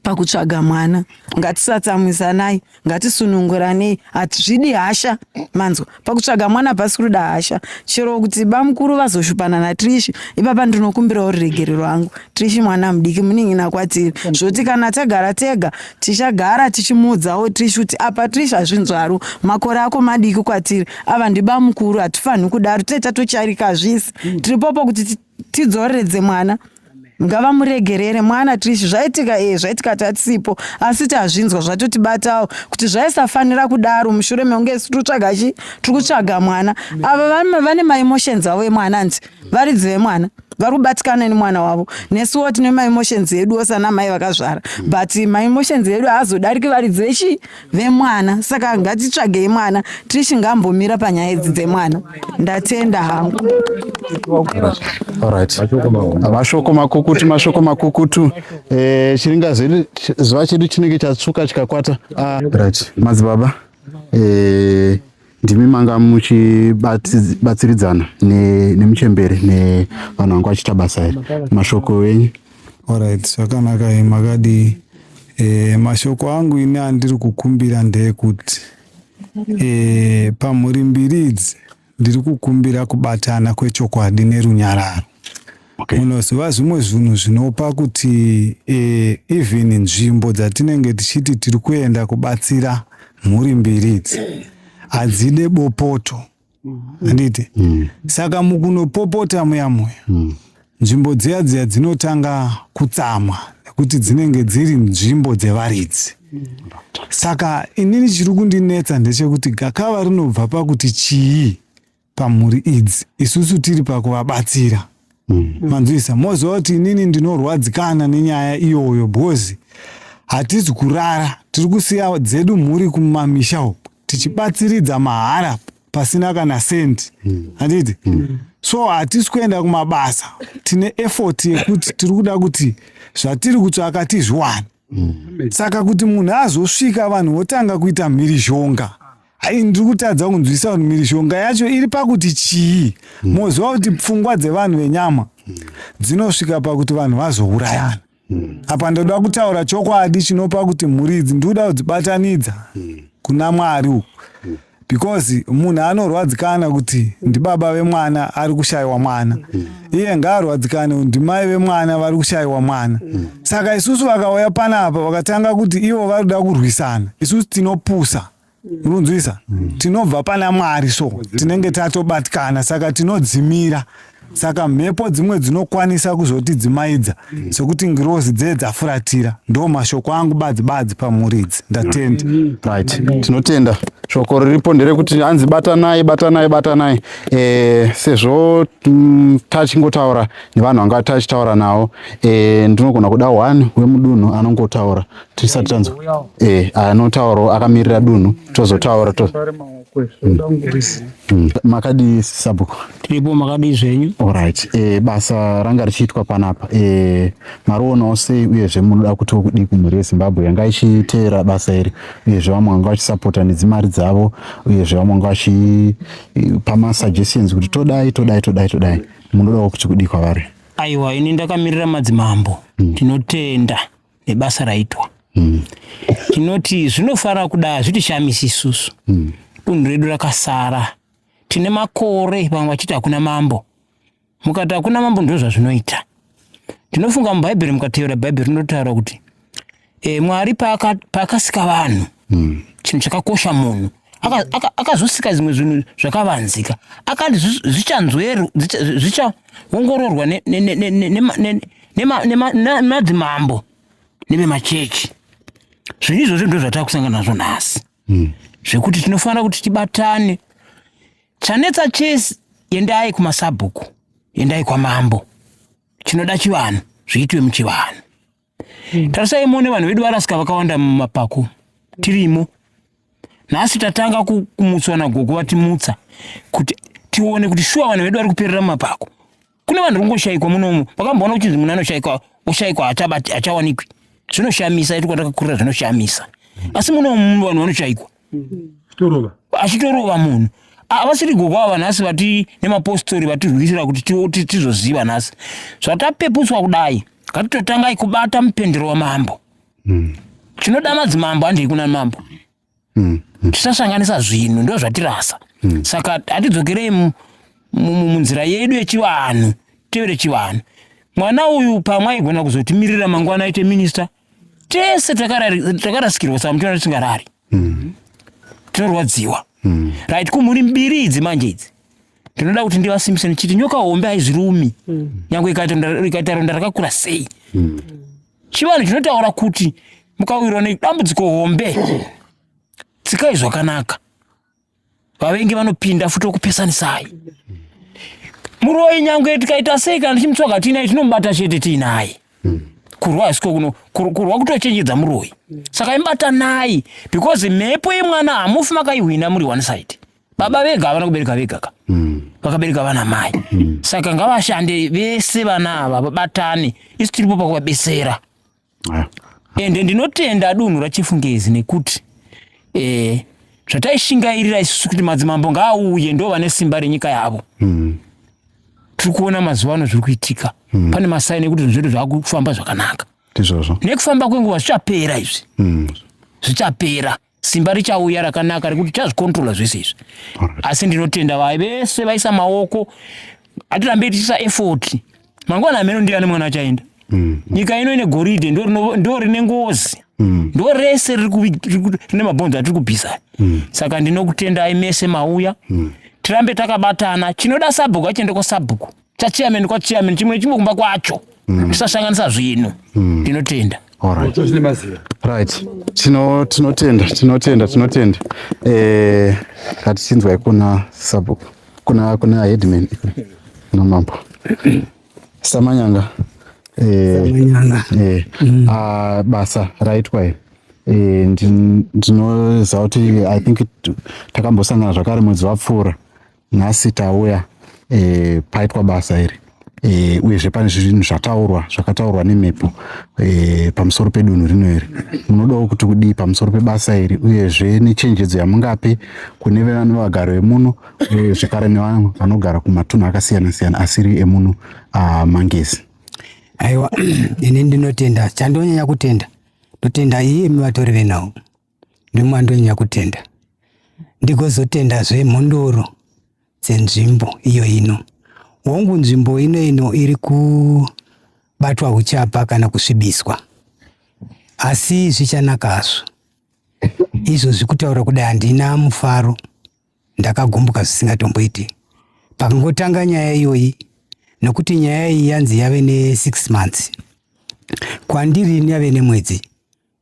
pakutsvaga mwana ngatisatsamwisanai ngatisununguranei hatizvidi hasha manzwa pakutsvaga mwana pasi kuruda hasha chero kuti bamukuru vazoshupana natrishi ipapa ndinokumbirawo ruregerero angu trishi mwana mudiki munin'ina kwatiri zvoti kana tagara tega Tichagara tichimuudzawo Trish kuti apa Trish hazvinzwaru makore ako madiki kwatiri ava ndibamukuru hatifanhi kudaro tee tatocharika hazvisi mm. tiripopo kuti tidzoreredze mwana ngavamuregerere mwana Trish zvaitika ee eh, zvaitika tatisipo asi tazvinzwa zvatotibatawo kuti zvaisafanira kudaro mushure mekunge tiri kutsvaga chi tiri kutsvaga mwana ava vane maemotions avo emwana nzi varidzi vemwana vari kubatikana nemwana wavo nesuwo tine maemotions edu ose ana mai vakazvara but maemotions edu haazodariki varidzi vechi vemwana saka ngatitsvagei mwana tishi ngambomira panyaya idzi dzemwana ndatenda hangu mashoko makukutu mashoko makukutu eh, chiringa zuva chedu chinenge chatsvuka chikakwata ah. madzibaba eh, ndimi manga muchibatsiridzana nemuchembere nevanhu vanga vachiita basa iri mashoko enyu orit zvakanaka makadii e, mashoko angu ini andiri kukumbira ndeyekuti e, eh, pamhuri mbiri idzi ndiri kukumbira kubatana kwechokwadi nerunyararo Okay. Munoziva zvimwe zvinhu zvinopa kuti eh, even nzvimbo dzatinenge tichiti tiri kuenda kubatsira mhuri mbiri idzi hadzide bopoto handiti mm. saka mukunopopota muya muya mm. nzvimbo dziya dziya dzinotanga kutsamwa nekuti dzinenge dziri nzvimbo dzevaridzi mm. saka inini chiri kundinetsa ndechekuti gakava rinobva pakuti chii pamhuri idzi isusu tiri pakuvabatsira mm. manzwisa moziva kuti inini ndinorwadzikana nenyaya iyoyo bhozi hatizi kurara tiri kusiya dzedu mhuri kumamisha uku tichibatsiridza mahara pasina kana sendi mm. handiti mm. so hatisi kuenda kumabasa tine effort yekuti tiri kuda kuti zvatiri kutsvaka tizviwane mm. saka kuti munhu azosvika vanhu votanga kuita mhirizhonga ai ndiri kutadza kunzwisa vanhu mhirizhonga yacho iri pakuti chii mm. moziva kuti pfungwa dzevanhu venyama mm. dzinosvika pakuti vanhu vazourayana mm. apa ndoda kutaura chokwadi chinopa kuti mhuri idzi ndikuda kudzibatanidza mm. kuna mwari uku mm. because munhu anorwadzikana kuti ndibaba vemwana ari kushayiwa mwana mm. iye ngaarwadzikane kuti ndimai vemwana vari kushayiwa mwana mm. saka isusu vakauya panapa vakatanga kuti ivo vari kuda kurwisana isusu tinopusa runzwisa mm. tinobva pana mwari so tinenge tatobatikana saka tinodzimira Saka mhepo dzimwe dzinokwanisa kuzotidzimaidza sokuti ngirozi dzee dzafuratira. Ndoo mashoko angu badzi badzi pamhuri idzi. Ndatenda. Right. Tinotenda. Shoko riripo nderekuti hanzi batanai batanai batanai e, sezvo mm, tachingotaura nevanhu vanga tachitaura navo e, ndinogona kuda one wemudunhu anongotaura tisati tanzwa e, anotaurawo akamirira dunhu tozotaura to, Hmm. makadii sabhuku tiripo makadii zvenyu orit e, eh, basa ranga richiitwa panapa e, eh, marionawo sei uyezve munoda kuti kudii kumhuri yezimbabwe yanga ichiteera basa iri uyezve vamwe vanga vachisapota nedzimari dzavo uyezve vamwe vanga vachipa eh, masuggestions kuti todai todai todai todai munodawo kuti kudii kwavari aiwa ini ndakamirira madzimambo hmm. tinotenda mm. nebasa raitwa mm. tinoti zvinofanira kudai hazvitishamisi isusu mm. dunhu redu rakasara tine makore vamwe vachiti hakuna mambo mukati hakuna mambo ndo zvazvinoita tinofunga mubhaibheri mukateera bhaibheri rinotaura kuti e, mwari paakasika vanhu mm. chinhu chakakosha munhu akazosika zvimwe zvinhu zvakavanzika akati zvichaongororwa nemadzimambo nevemachechi zvinhu izvozvo ndo zvatava kusangana nazvo nhasi hmm. zvekuti tinofanira kuti tibatane chanetsa chese endai kumasabhuku endai kwamambo chinoda chivanhu zviitwe muchivanhu mm. tarisai muone vanhu vedu varasika vakawanda mumapako tirimo nhasi tatanga kumutswa nagogo vatimutsa kuti tione kuti shuwa vanhu vedu vari kuperera mumapako kune vanhu ringoshayikwa munomu vakamboona kuchinzi munhu anoshayikwa oshayikwa hachawanikwi zvinoshamisa ituka takakurira zvinoshamisa asi munomu vanhu vanoshayikwa torova achitorova munhu avasiri gokwa ava nhasi vati nemapostori vatirwisira kuti tizoziva nhasi zvatapeputswa kudai ngatitotangai kubata mupendero wamambo hmm. chinoda madzimambo handei kuna mambo hmm, hmm. tisasanganisa zvinhu ndo zvatirasa saka hatidzokerei munzira yedu yechivanhu tevere chivanhu mwana uyu pamwe aigona kuzotimirira mangwana aite minista tese takarasikirwa saka muchiona tisingarari mm. tinorwadziwa mm. right kumhuri mbiri idzi manje idzi ndinoda kuti ndivasimbise ndichiti nyoka hombe haizvirumi mm. nyange ikaita ronda rakakura sei chivanhu chinotaura kuti mukawirwa nedambudziko hombe tsikai zvakanaka vavengi vanopinda futi okupesanisai muroyi nyangwe tikaita sei kana tichimutsvaga tiinaye tinomubata chete tiinaye hmm. kurwa hasiko kuno kurwa kutochenjedza muroyi hmm. saka imubatanai because mhepo yemwana hamufi makaihwina muri one side baba vega havana kubereka vega ka hmm. vakabereka vana mai saka ngavashande vese vana ava vabatane isu tiripo pakuvabesera ah. ende ndinotenda adunhu rachifungezi nekuti eh, zvataishingairira isusu kuti madzimambo ngaauye ndo vane simba renyika yavo mm. tiri kuona mazuva ano zviri kuitika mm. pane masaini ekuti zvinhu zvedu zvakufamba zvakanaka ndizvozvo nekufamba kwenguva zvichapera izvi mm. zvichapera mm. simba richauya rakanaka rekuti tazvikontrola zvese izvi asi ndinotenda vai vese vaisa maoko atirambe tiisa effort mangwana ameno ndiani mwana achaenda mm. nyika ino ine goridhe ndo rine ngozi mm. ndo rese rine mabhonzo atiri kubvisa mm. saka ndinokutendai mese mauya tirambe takabatana chinoda sabhuku achiende kwasabhuku chachairman kwachairman chimwe chimwe kumba kwacho mm. tisasanganisa zvinhu mm. ndinotenda right tinotenda tinotenda tinotenda eh, ngatichinzwai kuna sabhuku kuna kuna headman kuna mambo samanyanga eh, eh, mm. ah, basa raitwa here Eh, ndinoziva kuti i think takambosangana zvakare mwedzi wapfuura nhasi tauya e, paitwa basa iri e, uyezve pane zvinhu zvataurwa zvakataurwa nemhepo e, pamusoro pedunhu rino iri munodawo kuti kudii pamusoro pebasa iri uyezve nechenjedzo yamungape kune vevano vagaro vemuno e, zvekare nevamwe vanogara kumatunhu akasiyana siyana asiri emuno ah, mangezi aiwa ini ndinotenda chandonyanya kutenda ndotenda iyemi vatori venhau nemwando nyakutenda ndigozotendazve mhondoro dzenzvimbo iyo ino hongu nzvimbo ino ino iri kubatwa uchapa kana kusvibiswa asi zvichanaka hazvo izvo zvekutaura kudai handina mufaro ndakagumbuka zvisingatomboiti pakangotanga nyaya iyoyi nokuti nyaya iyi yanzi yave ne6 months kwandiri yave nemwedzi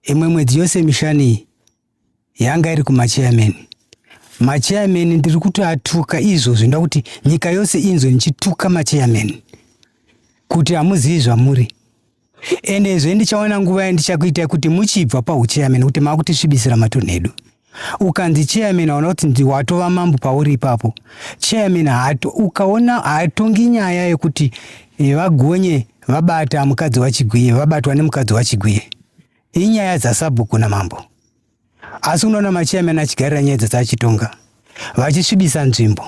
imwe mwedzi yose mishani yanga iri kumachairman machairman ndiri kutoatuka izvo zvinoda kuti nyika yose inzwe ndichituka machairman kuti hamuzivi zvamuri ende zve ndichaona nguva yandichakuitai kuti muchibva pauchairman kuti maakutisvibisira matunhu edu ukanzi chairman waona kuti watova mambo pauri ipapo chairman hato, ukaona haatongi nyaya yekuti eh, vagonye vabata mukadzi wachigwiye vabatwa nemukadzi wachigwiye inyaya dzasabhuku namambo asi unoona machairman achigarira nyaya dzese achitonga vachisvibisa nzvimbo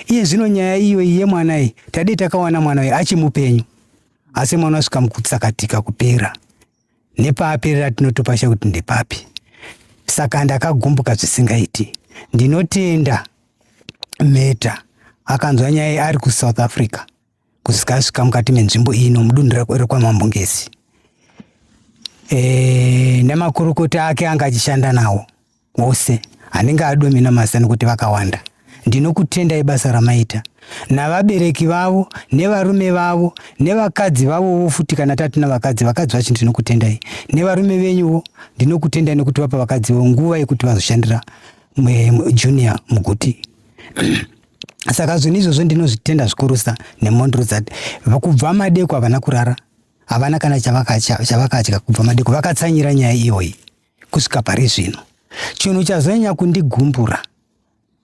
iye zvino nyaya iyoyi yemwana iyi tadei takawana mwana uyu achimupenyu asi mwana asvika mukutsakatika kupera nepaaperera tinotopasha kuti ndepapi saka ndakagumbuka zvisingaiti ndinotenda meta akanzwa nyaya ari kusouth africa kusvika asvika mukati menzvimbo iyi nomudunhu rekwamambo ngesi e, nemakurukota ake anga achishanda nawo ose anenge adomina masta nekuti vakawanda ndinokutendai basa ramaita navabereki vavo nevarume vavo nevakadzi vavovo futi kana tatina vakadzi vakadzi vacho ndinokutendai nevarume venyuvo ndinokutendai nekuti vapa vakadzi vo nguva yekuti vazoshandira junior muguti saka zvinhu izvozvo ndinozvitenda zvikurusa nemhondoro dzati kubva madeko havana kurara havana kana chavakadya kubva madeko vakatsanyira nyaya iyoyi kusvika pari zvino chinhu chazonyanya kundigumbura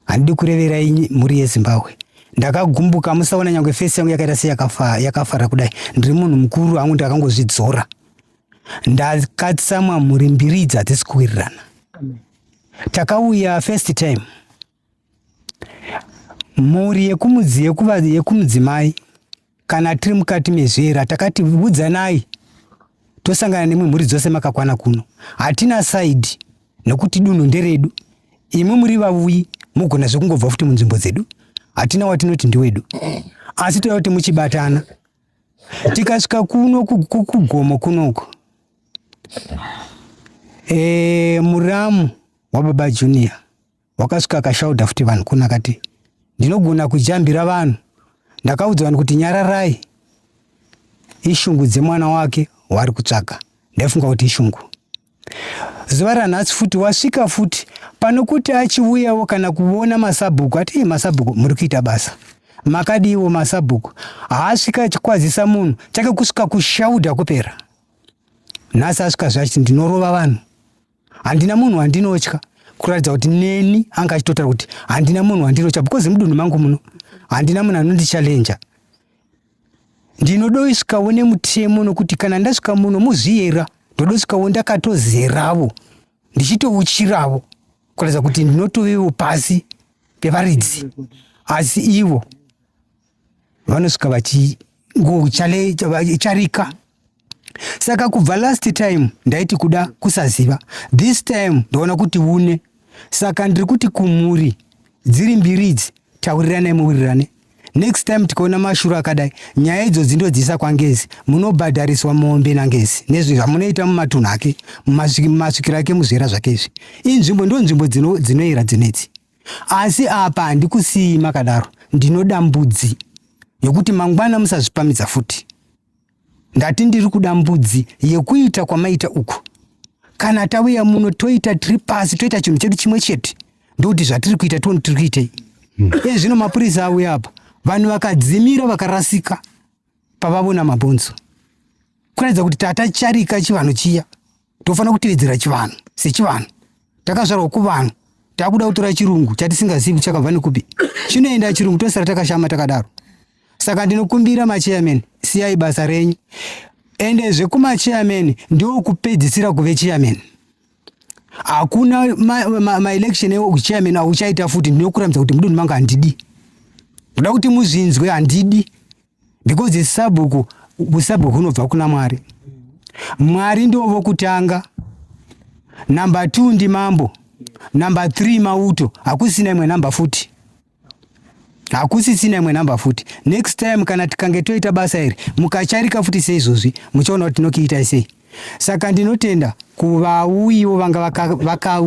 handidi kurevera mhuri yezimbabwe ndakagumbuka musaona nyange fesi yangu yakaita seyakafara yakafa kudai ndiri munhu mukuru angu ndakangozvidzora ndakatsamwa mhuri mbiri idzi hadzisi kuwirirana takauya first time mhuri yekumudzi yekuva yekumudzimai kana tiri mukati mezvera takati udzanai tosangana nemwe mhuri dzose makakwana kuno hatina side nokuti dunhu nderedu imi muri vavuyi mugona zvekungobva futi munzvimbo dzedu hatina watinoti ndiwedu asi toda kuti muchibatana tikasvika kuno kugomo kunoko e, muramu wababa junior Wakasvika akashaudha futi vanhu kuna akati ndinogona kujambira vanhu. Ndakaudza vanhu kuti nyararai ishungu dzemwana wake waari kutsvaga. Ndaifunga kuti ishungu. Zuva ranhasi futi wasvika futi pano kuti achiuyawo kana kuona masabhuku ati masabhuku muri kuita basa makadiiwo masabhuku haasvika achikwazisa munhu chake kusvika kushaudha kupera nhasi asvika zvachi ndinorova vanhu handina munhu wandinotya kuratidza kuti neni anga achitotaura kuti handina munhu wandinotya because mudunhu mangu muno handina munhu anondichallenja ndinodosvikawo nemutemo nokuti kana ndasvika muno muzviyera ndodosvikawo ndakatozeravo ndichitouchiravo kuratidza kuti ndinotovevo pasi pevaridzi asi ivo vanosvika vachingocharika saka kubva last time ndaiti kuda kusaziva this time ndaona kuti une saka ndiri kuti kumhuri dziri mbiri idzi tauriranai muwirirane next time tikaona mashuro akadai nyaya idzodzi ndodziisa kwangezi munobhadhariswa mombe nangezi nezvi zvamunoita mumatunhu ake mumasvikiro ake muzvera zvake izvi inzvimbo ndo nzvimbo dzinoyera dzinedzi asi apa handikusiyi makadaro ndinoda mbudzi yokuti mangwana musazvipamidza futi Ndati ndiri kuda mbudzi yekuita kwamaita uku. Kana tauya muno toita tiri pasi toita chinhu chedu chimwe chete ndokuti zvatiri kuita tione tiri kuitei. Hmm. Iye zvino mapurisa auya apa vanhu vakadzimira vakarasika pavavona mabhonzo kuratidza kuti tata charika chivanhu chiya tofanira kutevedzera chivanhu sechivanhu takazvarwa kuvanhu takuda kutora chirungu chatisingazivi chakabva nekupi chinoenda chirungu tosara takashama takadaro saka ndinokumbira macheyamen siyai basa renyu ende zvekumacheyamen ndokupedzisira kuve cheyamen hakuna maelection ma, ma echeyamen auchaita futi ndinokuramidza kuti mudunhu manga handidi ndoda kuti muzvinzwe handidi because sabhuku usabhuku hunobva kuna mwari mwari ndivo vokutanga number t ndi mambo number th mauto hakusina imwe number futi hakusisina imwe number futi next time kana tikange toita basa iri mukacharika futi seizvozvi muchaona kuti tinokiitai sei saka ndinotenda kuvauyiwo vanga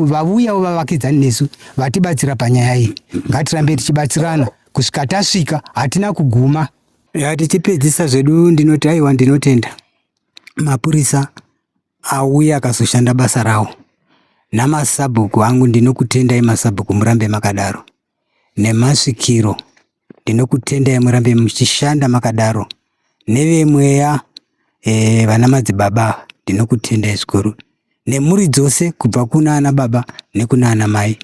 vauyawo vavakidzani nesu vatibatsira panyaya iyi ngatirambe tichibatsirana kusvika tasvika hatina kuguma ya tichipedzisa zvedu ndinoti aiwa ndinotenda mapurisa auya akazoshanda basa rawo namasabhuku angu ndinokutendai masabhuku murambe makadaro nemasvikiro ndinokutendai murambe muchishanda makadaro nevemweya e, vana madzibaba ndinokutendai zvikuru nemhuri dzose kubva kuna ana baba nekuna ana mai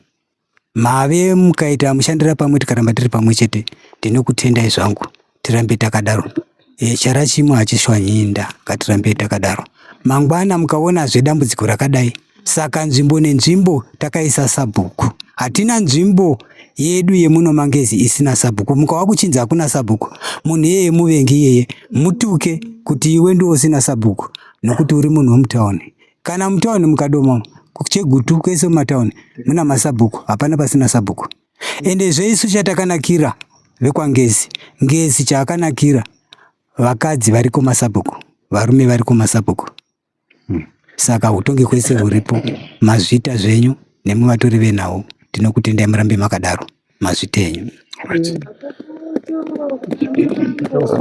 Mave mukaita mushandira pamwe tikaramba tiri pamwe chete ndinokutendai zvangu tirambe takadaro. E, chara chimwe hachishwanyinda ngatirambe takadaro. Mangwana mukaonazve dambudziko rakadai saka nzvimbo nenzvimbo takaisa sabhuku. Hatina nzvimbo yedu yemuno mangezi isina sabhuku mukava kuchinzi hakuna sabhuku munhu iyeye muvengi iyeye mutuke kuti iwe ndiwo usina sabhuku nokuti uri munhu wemutauni Kana mutown mukadoma kuchegutu kwese mumatown muna masabhuku hapana pasina sabhuku ende zveisu chatakanakira vekwangezi ngezi chaakanakira vakadzi variko masabhuku varume variko masabhuku hmm. saka utongi kwese huripo mazvita zvenyu nemuvatori venhau tinokutendai murambe makadaro mazviti enyu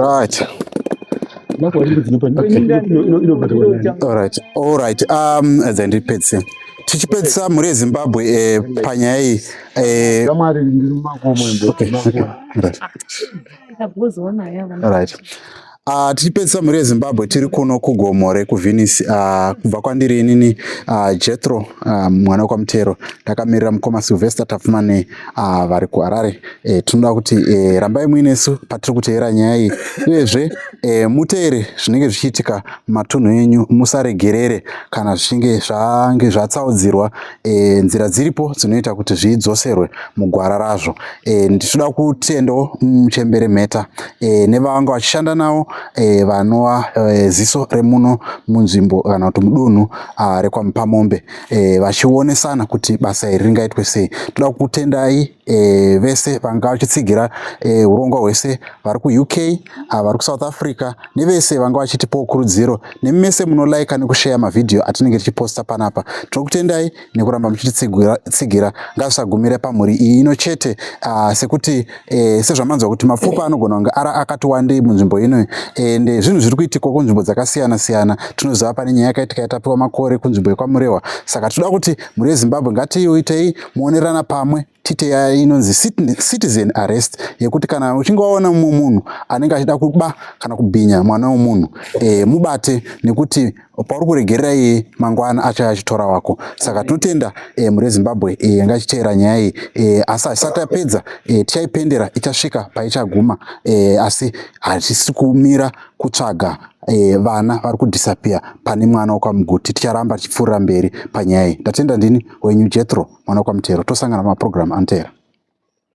right right um edza ndipedzise tichipedzisa mhuri yezimbabwe eh, panyaya iyi eh, right Uh, tichipedzisa mhuri yezimbabwe tiri kuno kugomore kuvenice uh, ah, kubva kwandiri inini uh, ah, jetro uh, mwana wekwamutero ndakamirira mukoma silvester tafumane uh, vari kuharare e, tinoda kuti e, rambai muinesu patiri kuteera nyaya iyi uyezve e, muteere zvinenge zvichiitika matunhu enyu musaregerere kana zvichinge zvange zvatsaudzirwa e, nzira dziripo dzinoita kuti zvidzoserwe mugwara razvo e, ndichida kutendawo muchembere mheta e, nevavanga vachishanda navo e, vanova e, ziso remuno munzvimbo kana kuti mudunhu rekwamupamombe e, vachionesana kuti basa iri ringaitwe sei toda kutendai e, vese vanga vachitsigira e, urongwa hwese vari kuuk ah, vari kusouth africa nevese vanga vachitipawo kurudziro nemese munolaika nekusheya mavhidhiyo atinenge tichiposta panapa tinokutendai nekuramba muchititsigira ngazvisagumire pamhuri iyi ino chete ah, sekuti e, sezvamanzwa kuti mapfupa anogona kunge ara akati wandei munzvimbo ino ende zvinhu zviri kuitikwa kunzvimbo dzakasiyana siyana tinoziva pane nyaya yakaitika yatapiwa makore kunzvimbo yekwamurehwa saka tinoda kuti mhuri yezimbabwe ngatiiuitei moonerana pamwe tite yaya inonzi citizen arrest yekuti kana uchinge waona mumwe munhu anenge achida kuba kana kubhinya mwana wemunhu e, mubate nekuti pauri kuregerera iye mangwana achaya achitora wako saka tinotenda e, mhuri yezimbabwe e, yanga ichiteera nyaya iyi e, asi haisati yapedza e, tichaipendera ichasvika paichaguma e, asi hatisi kumira kutsvaga e, vana vari kudhisapiya pane mwana wekwamuguti ticharamba tichipfuurira mberi panyaya iyi ndatenda ndini wenyu jethro mwana wekwamuteero tosangana mumapurogiramu anoteera